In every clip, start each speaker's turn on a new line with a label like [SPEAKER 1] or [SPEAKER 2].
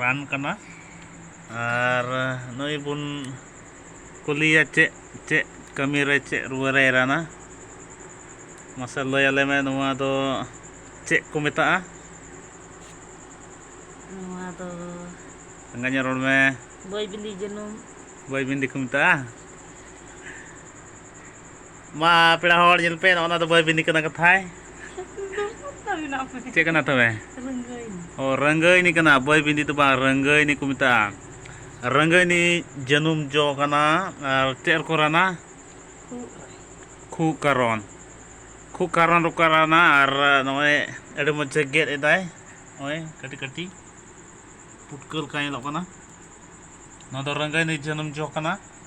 [SPEAKER 1] ᱨᱟᱱ ᱠᱟᱱᱟ ᱟᱨ ᱱᱩᱭ ᱵᱚᱱ ᱠᱩᱞᱤᱭᱮᱭᱟ ᱪᱮᱫ ᱪᱮᱫ ᱠᱟᱹᱢᱤ ᱨᱮ ᱪᱮᱫ ᱨᱩᱣᱟᱹ ᱨᱮᱭ ᱨᱟᱱᱟ ᱢᱟᱥᱮ ᱞᱟᱹᱭ ᱟᱞᱮ ᱢᱮ ᱱᱚᱣᱟ ᱫᱚ ᱪᱮᱫ ᱠᱚ ᱢᱮᱛᱟᱜᱼᱟ
[SPEAKER 2] ᱱᱚᱣᱟ ᱫᱚ ᱪᱟᱸᱜᱟ ᱧᱚᱜ
[SPEAKER 1] ᱨᱚᱲ ᱢᱮ ᱵᱟᱹᱭ ᱵᱤᱞᱤ ᱡᱟᱹᱱᱩᱢ
[SPEAKER 2] ᱵᱟᱹᱭ ᱵᱤᱱᱰᱤ ᱠᱚ ᱢᱮᱛᱟᱜᱼᱟ
[SPEAKER 1] ᱢᱟ ᱯᱮᱲᱟ ᱦᱚᱲ ᱧᱮᱞ ᱯᱮ ᱱᱚᱜᱼᱚ ᱱᱟ ᱫᱚ ᱵᱟᱹᱭ ᱵᱤᱱᱤ ᱠᱟᱱᱟ ᱠᱟᱛᱷᱟᱭ ᱪᱮᱫ ᱠᱟᱱᱟ ᱛᱚᱵᱮ ᱚ ᱨᱟᱹᱝᱜᱟᱹᱭᱱᱤ ᱠᱟᱱᱟ ᱵᱟᱹᱭ ᱵᱤᱱᱫᱤ ᱫᱚ ᱵᱟᱝ ᱨᱟᱹᱝᱜᱟᱹᱭᱱᱤ ᱠᱚ ᱢᱮᱛᱟᱜᱼᱟ ᱨᱟᱹᱝᱜᱟᱹᱭᱱᱤ ᱡᱟᱹᱱᱩᱢ ᱡᱚ ᱠᱟᱱᱟ ᱟᱨ ᱪᱮᱫ ᱨᱮᱠᱚ ᱨᱟᱱᱟ ᱠᱷᱩᱜ ᱠᱟᱨᱚᱱ ᱠᱷᱩᱜ ᱠᱟᱨᱚᱱ ᱨᱮᱠᱚ ᱨᱟᱱᱟ ᱟᱨ ᱱᱚᱜᱼᱚᱭ ᱟᱹᱰᱤ ᱢᱚᱡᱽ ᱮ ᱜᱮᱫ ᱮᱫᱟᱭ ᱱᱚᱜᱼᱚᱭ ᱠᱟᱹᱴᱤᱡ ᱠᱟᱹᱴᱤᱡ ᱯᱩᱴᱠᱟᱹ ᱞᱮᱠᱟ ᱧᱮᱞᱚᱜ ᱠᱟᱱᱟ ᱱᱚᱣᱟ ᱫᱚ ᱨᱟᱹᱝᱜᱟᱹᱭᱱᱤ ᱡᱟᱹᱱᱩᱢ ᱡᱚ ᱠᱟᱱᱟ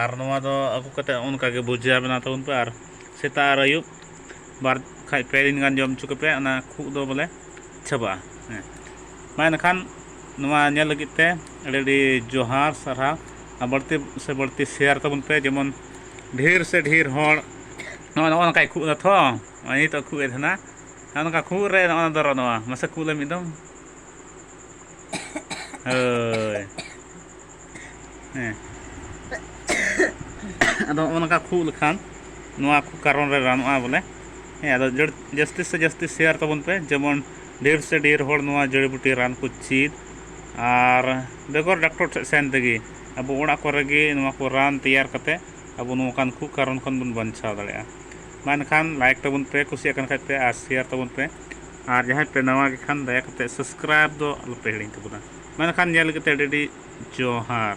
[SPEAKER 1] ᱟᱨ ᱱᱚᱣᱟ ᱫᱚ ᱟᱹᱜᱩ ᱠᱟᱛᱮᱫ ᱚᱱᱠᱟᱜᱮ ᱵᱷᱩᱡᱤᱭᱟ ᱵᱮᱱᱟᱣ ᱛᱟᱵᱚᱱ ᱯᱮ ᱟᱨ ᱥᱮᱛᱟᱜ ᱟᱨ ᱟᱹᱭᱩᱵ ᱵᱟᱨ ᱠᱷᱟᱡ ᱯᱮ ᱫᱤᱱ ᱜᱟᱱ ᱡᱚᱢ ᱦᱚᱪᱚ ᱠᱚᱯᱮ ᱚᱱᱟ ᱠᱷᱩᱜ ᱫᱚ ᱵᱚᱞᱮ ᱪᱟᱵᱟᱜᱼᱟ ᱦᱮᱸ ᱢᱟ ᱮᱱᱠᱷᱟᱱ ᱱᱚᱣᱟ ᱧᱮᱞ ᱞᱟᱹᱜᱤᱫ ᱛᱮ ᱟᱹᱰᱤ ᱟᱹᱰᱤ ᱡᱚᱦᱟᱨ ᱥᱟᱨᱦᱟᱣ ᱟᱨ ᱵᱟᱹᱲᱛᱤ ᱥᱮ ᱵᱟᱹᱲᱛᱤ ᱥᱮᱭᱟᱨ ᱛᱟᱵᱚᱱ ᱯᱮ ᱡᱮᱢᱚᱱ ᱰᱷᱮᱨ ᱥᱮ ᱰᱷᱮᱨ ᱦᱚᱲ ᱱᱚᱜᱼᱚ ᱱᱚᱜᱼᱚ ᱱᱚᱝᱠᱟᱭ ᱠᱷᱩᱜ ᱮᱫᱟ ᱛᱷᱚ ᱱᱚᱜᱼᱚᱭ ᱱᱤᱛᱚᱜ ᱠᱷᱩᱜ ᱮ ᱛᱟᱦᱮᱱᱟ ᱱᱚᱜᱼᱚ ᱱᱚᱝᱠᱟ ᱠᱷᱩᱜ ᱨᱮ ᱱᱚᱜᱼᱚ ᱱᱚᱣᱟ ᱫᱚᱨᱚ ᱱᱚᱣᱟ ᱢᱟᱥᱮ ᱠᱷᱩᱜ ᱞᱮ ᱢᱤᱫ ᱫᱚᱢ ᱦᱳᱭ ᱦᱮᱸ ᱟᱫᱚ ᱱᱚᱜᱼᱚ ᱱᱚᱝᱠᱟ ᱠᱷᱩᱜ ᱞᱮᱠᱷᱟᱱ ᱱᱚᱣᱟ ᱠᱚ ᱠᱟᱨᱚᱱ ᱨᱮ ᱨᱟᱱᱚᱜᱼᱟ ᱵᱚᱞᱮ ᱦᱮᱸ ᱟᱫᱚ ᱡᱟᱹᱥᱛᱤ ᱥᱮ ᱡᱟᱹᱥᱛᱤ ᱥᱮᱭᱟᱨ ᱛᱟᱵᱚᱱ ᱯᱮ ᱡᱮᱢᱚᱱ ᱰᱷᱮᱨ ᱥᱮ ᱰᱷᱮᱨ ᱦᱚᱲ ᱱᱚᱣᱟ ᱡᱟᱹᱲᱤ ᱵᱩᱴᱤ ᱨᱟᱱ ᱠᱚ ᱪᱮᱫ ᱟᱨ ᱵᱮᱜᱚᱨ ᱰᱟᱠᱴᱚᱨ ᱴᱷᱮᱱ ᱥᱮᱱ ᱛᱮᱜᱮ ᱟᱵᱚ ᱚᱲᱟᱜ ᱠᱚᱨᱮ ᱜᱮ ᱱᱚᱣᱟ ᱠᱚ ᱨᱟᱱ ᱛᱮᱭᱟᱨ ᱠᱟᱛᱮᱫ ᱟᱵᱚ ᱱᱚᱝᱠᱟᱱ ᱠᱷᱩᱜ ᱠᱟᱨᱚᱱ ᱠᱷᱚᱱ ᱵᱚᱱ ᱵᱟᱧᱪᱟᱣ ᱫᱟᱲᱮᱭᱟᱜᱼᱟ ᱢᱟ ᱮᱱᱠᱷᱟᱱ ᱞᱟᱭᱤᱠ ᱛᱟᱵᱚᱱ ᱯᱮ ᱠᱩᱥᱤᱭᱟᱜ ᱠᱟᱱ ᱠᱷᱟᱡ ᱯᱮ ᱟᱨ ᱥᱮᱭᱟᱨ ᱛᱟᱵᱚᱱ ᱯᱮ ᱟᱨ ᱡᱟᱦᱟᱸᱭ ᱯᱮ ᱱᱟᱣᱟ ᱜᱮ ᱠᱷᱟᱱ ᱫᱟᱭᱟ ᱠᱟᱛᱮ ᱥᱟᱵᱥᱠᱨᱟᱭᱤᱵᱽ ᱫᱚ ᱟᱞᱚ ᱯᱮ ᱦᱤᱲᱤᱧ ᱛᱟᱵᱚᱱᱟ ᱢᱮᱱᱠᱷᱟᱱ ᱧᱮᱞ ᱞᱟᱹᱜᱤᱫ ᱛᱮ ᱟᱹᱰᱤ ᱟᱹᱰᱤ ᱡᱚᱦᱟᱨ